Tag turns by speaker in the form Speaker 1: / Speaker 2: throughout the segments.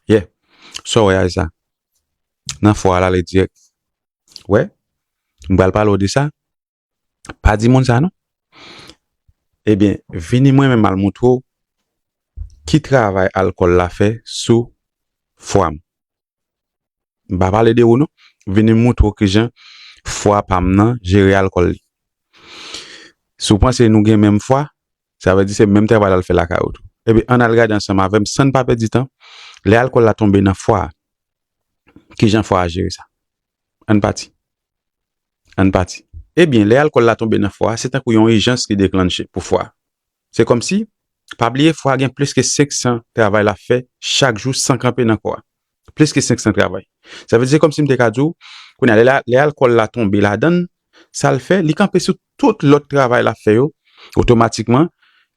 Speaker 1: Ye, sa w wè a e sa. Nan fwa a l ale dirèk. Wè, m pral pale w de sa. Pa di moun sa non. Ebyen, vini mwen menm al montre w ki travay alkòl la fè sou fwa m. M pa pale de ou non. M vini moutre w kijan fwa pa m nan jere alkòl li. Si w panse nou gen menm fwa, sa vle di se menm travay la l fè lakay ou tou. Ebyen ann al gade ansanm avè m san n pa pèdi tan, lè alkòl la tonbe nan fwa a, kijan fwa a jere sa. Ann pati. Ann pati. Ebyen lè alkòl la tonbe nan fwa a, se tankou yon ijans li deklannche pou fwa a. Se kòmsi, pa bliye fwa a gen plis ke 500 travay lap fè chak jou san kanpe nan kò a. Plis ke 500 travay. Sa vle di se kòmsi m te ka di w, kounye a lè alkòl la tonbe ladan l, sa l fè, li kanpe sou tout lòt travay lap fè yo, otomatikman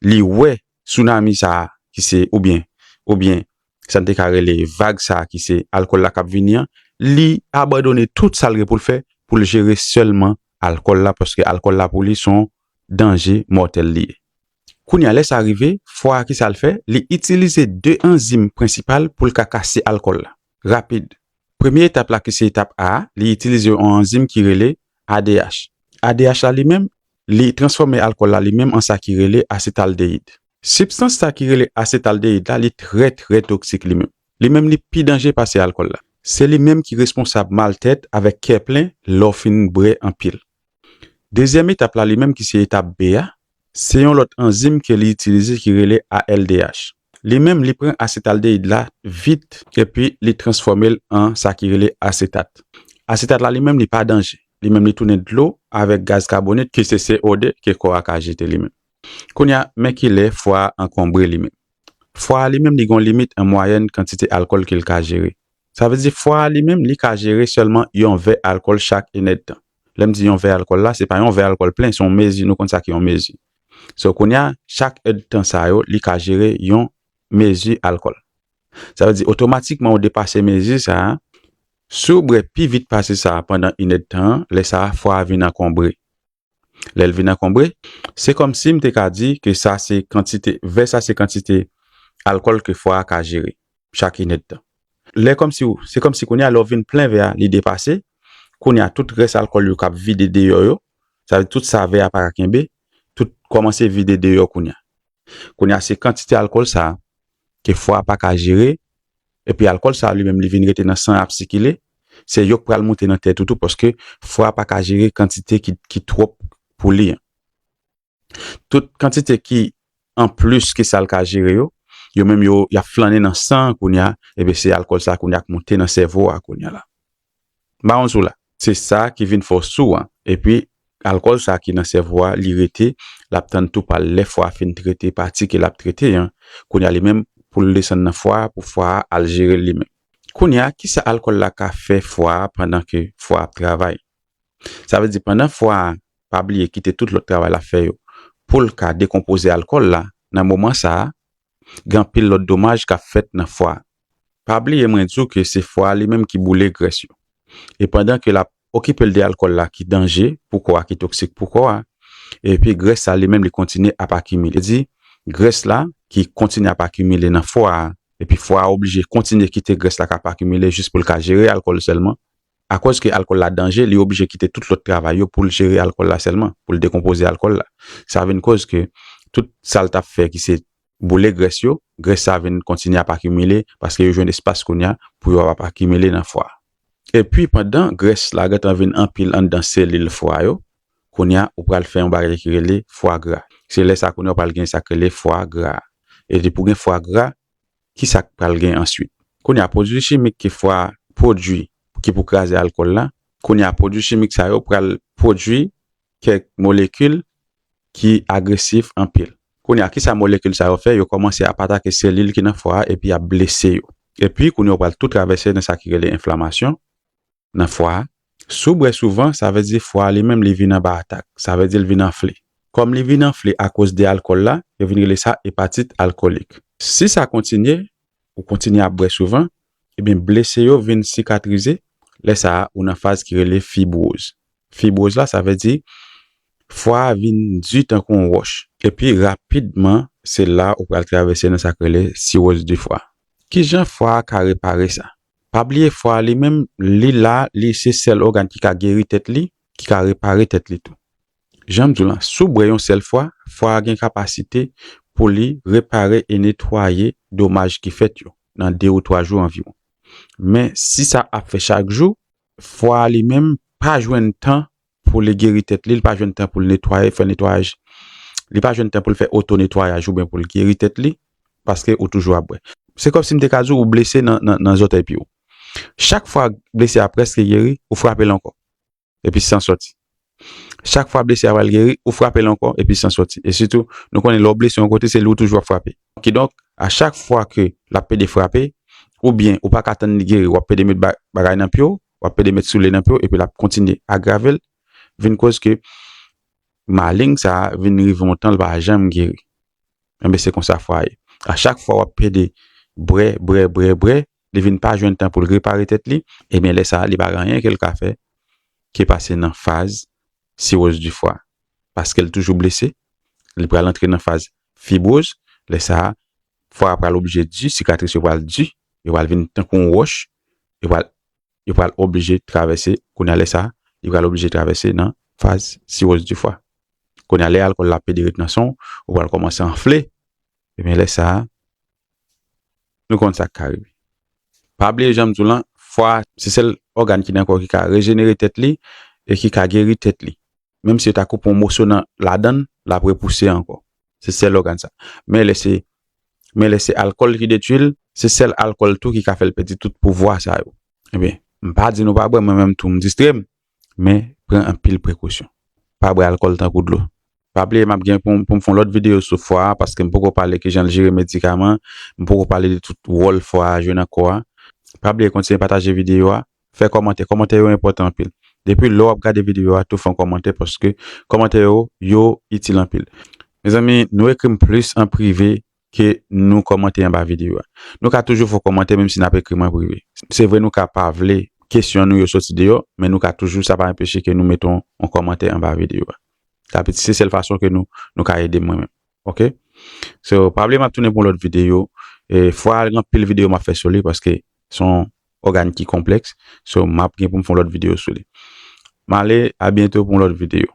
Speaker 1: li wè tsunami sa a ki se oubyen oubyen sa n te ka rele vag sa a ki se alkòl la kap vini an, li abandone tout sa l gen pou l fè pou l jere sèlman alkòl la paske alkòl la pou li son danje mòtèl li ye. Kounye a, lè sa rive, fwa a ki sa l fè? Li itilize de anzim prensipal pou l ka kase alkòl la rapid. Premye etap la ki se etap A a, li itilize yon anzim ki rele ADH. ADH la li menm, li transfòme alkòl la li menm an sa ki rele asetaldeyid. Sibstans sa ki rele asetaldeyid la li trè trè toksik li menm. Li menm li pi danje pase alkòl la. Se li menm ki responsab maltèt avèk kè plen lè w fin bre anpil. Dezyèm etap la li menm ki se etap B a, se yon lòt anzim ke li itilize ki rele ALDH. Li menm li pran asetaldehid la vit epi li transfòme l an sa ki rele asetat. Asetat la li menm li pa danje, li menm li tounen dlo avèk gaz kabonik ki se CO2 ke kò a ka jete li menm. Kounye a, men ki lè fwa a ankonbre li menm. Fwa a li menm li gen yon limit an mwayèn kantite alkòl ke l ka jere. Sa vle di fwa a li menm li ka jere sèlman yon vè alkòl chak inèdtan. Lè m di yon vè alkòl la, se pa yon vè alkòl plen, se yon mezi, nou konn sa ki yon mezi. So kounye a, chak èdtan sa yo, li ka jere yon mezi alkòl. Sa vle di otomatikman ou depase mezi sa a. Si w bwè pi vit pase sa a pandan inèdtan an, lè sa a fwa a vin ankonbre. Lè l vin ankonbre, se kòmsi m te ka di ke sa se kantite, vè sa se kantite alkòl ke fwa a ka jere, chak inèdtan. Lè kòmsi w, se kòmsi kounye a lè w vin plen vè a, li depase, kounye a tout rès alkòl yo k ap vide deyò yo, sa vle di tout sa vè a pa ka kenbe, tout kòmanse vide deyò kounye a. Kounye a se kantite alkòl sa a ke fwa a pa ka jere Epi alkòl sa li menm li vin rete nan san ap sikile, se yok pral moute nan tèt ou tou paske fwa a paka jere kantite ki twòp pou li an. Tout kantite ki an plis ke sal ka jere yo, yo menm yo yap flannen nan san an kounya, epi se alkòl sa kounya k moute nan sèvo a kounya la. Mawon sou la. Se sa ki vin fè w sou an. Epi alkòl sa ki nan sèvo a li rete, l ap tann tou pa l lè fwa a fin trete pati ke l ap trete an, kounye a li menm pou l desann nan fwa a pou fwa a al jere l li menm. Kounye a ki sa alkòl la ka fè fwa a pandan ke fwa a ap travay? Sa vle di pandan fwa a pa bliye kite tout lòt travay l ap fè yo pou l ka dekonpoze alkòl la, nan moman sa a Gen anpil lòt domaj k ap fèt nan fwa a. Pa bliye mwen di w ke se fwa a li menm ki boule grès yo. E pandan ke l ap okipe l de alkòl la ki danje pou kò a, ki toksik pou kò a, epi grès sa li menm li kontinye ap akimile. Di, grès la ki kontinye ap akimile nan fwa a, epi fwa a oblije kontinye kite grès la k ap akimile jis pou l ka jere alkòl sèlman, Akòz ke alkòl la danje, li oblije kite tout lòt travay yo pou l jere alkòl la sèlman, pou l dekonpoze alkòl la. Sa vin kòz ke tout sa l t ap fè ki se boule grès yo, grès sa vin kontinye ap akimile paske yo jwenn espas kounye a pou yo ap akimile nan fwa a. Epi pandan grès la gentan vin anpil anndan selil fwa yo, kounye a ou pral fè yon bagay ki rele fwa gra. Se lè sa kounye a ou pral gen sa ki rele fwa gra. Epi pou gen fwa gra, ki sa k pral gen answit? Kounye a, pwodui chimik ki fwa pwodui ki pou kraze alkòl la, kounye a, pwodui chimik sa yo pral pwodui kèk molekil ki agresif anpil. Kounye a, ki sa molekil sa yo fè? Yo kòmanse ap atake selil ki nan fwa a epi y ap blese yo. Epi, kounye a, yo pral tou travèse nan sa ki rele enflamasyon. Nan fwa a. Si w bwè souvan, sa vle di fwa a li menm li vin anba atak. Sa vle di l vin anfle. Kòm li vin anfle akoz de alkòl la, yo vin rele sa epatit alkolik. Si sa kontinye, ou kontinye ap bwè souvan, ebyen blese yo vin sikatrize, lè sa a ou nan faz ki rele fibwoz. Fibwoz la sa vle di fwa a vin di tankou yon wòch. Epi rapidman se la ou pral travèse nan sa k rele siwoz di fwa. Kijan fwa a ka repare sa? Pa bliye fwa a li menm li la li se sèl ògàn ki ka geri tèt li, ki ka repare tèt li tou. Janm diw lan, si w bwè yon sèl fwa, fwa a gen kapasite pou li repare e netwaye domaj ki fèt yo nan 2 ou 3 jou anviwon. Men si sa ap fè chak jou, fwa a li menm pa jwenn tan pou li geri tèt li, li pa jwenn tan pou l netwaye, fè netwayaj, li pa jwenn tan pou l fè oto netwayaj oubyen pou l geri tèt li, paske ou toujou ap bwè. Se kòmsi m te ka di w ou blese nan zòtèy pye w. Chak fwa blese a prèske geri, ou frape l ankò, epi san sòti. Chak fwa blese a pral geri, ou frape l ankò, epi san sòti. E sitou, nou konnen lè w blese yon kote, se li ou toujou ap frape. Kidonk, a chak fwa ke l ap pede frape, oubyen ou pa ka tann li geri, w ap pede met bagay nan pye w, w ap pede met soule nan pye w epi l ap kontinye agrave l vin koz ke maleng sa a vin rive yon tan l pa janm geri. Enben se konsa fwa ye. A chak fwa w ap pede bre, bre, bre, bre, li vin pa jwenn tan pou l repare tèt li, enben lè sa a li pa gen anyen ke l ka fè ke pase nan faz siroz di fwa. Paske l toujou blese, li pral antre nan faz fibwoz, lè sa a Fwa a pral oblije di, sikatris yo pral di, yo pral vin tankou yon wòch, yo pral yo pral oblije travèse, kounye a lè sa, li pral oblije travèse nan faz siwoz di fwa. Kounye a lè alkòl la pede ret nan san w, ou pral kòmanse anfle, ebyen lè sa, nou konn sa k ka rive. Pa bliye jan m di w lan, fwa a se sèl ògàn ki nan kò w ki ka rejenere tèt li e ki ka geri tèt li. Menm si yo ta koupe yon moso nan ladan l, l ap repouse ankò. se sèl ògàn sa. Men lè se men lè se alkòl ki detui l, se sèl alkòl tou ki ka fè l pèdi tout pouvwa sa yo. Ebyen, m pa di nou pa bwè, mwen menm tou m distre m, men pran anpil prekosyon. Pa bwè alkòl tankou dlo. Pa bliye m ap gen pou m pou m fè yon lòt videyo sou fwa a paske m poko pale kijan l jere medikaman, m poko pale de tout wòl fwa a jwe nan kò a. Pa bliye kontinye pataje videyo a Fè kòmantè, kòmantè yo enpòtan anpil. Depi lè w ap gade videyo a tou fè yon kòmantè paske kòmantè yo yo itil anpil. Mezanmi nou ekri m plis an prive ke nou kòmante anba videyo a. Nou ka toujou fè yon kòmantè menm si n ap ekri m an prive. Se vre nou ka pa vle kesyon nou yo soti deyò men nou ka toujou sa pa enpeche ke nou mete yon kòmantè anba videyo a. Sa se sèl fason ke nou nou ka ede m mwen menm. ok so pa bliye map tounen pou lòt videyo e fwa al gen pil videyo map fè sou li paske son ògàn ki konpleks so map gen pou m fon lòt videyo sou li male abyento pou lòt videyo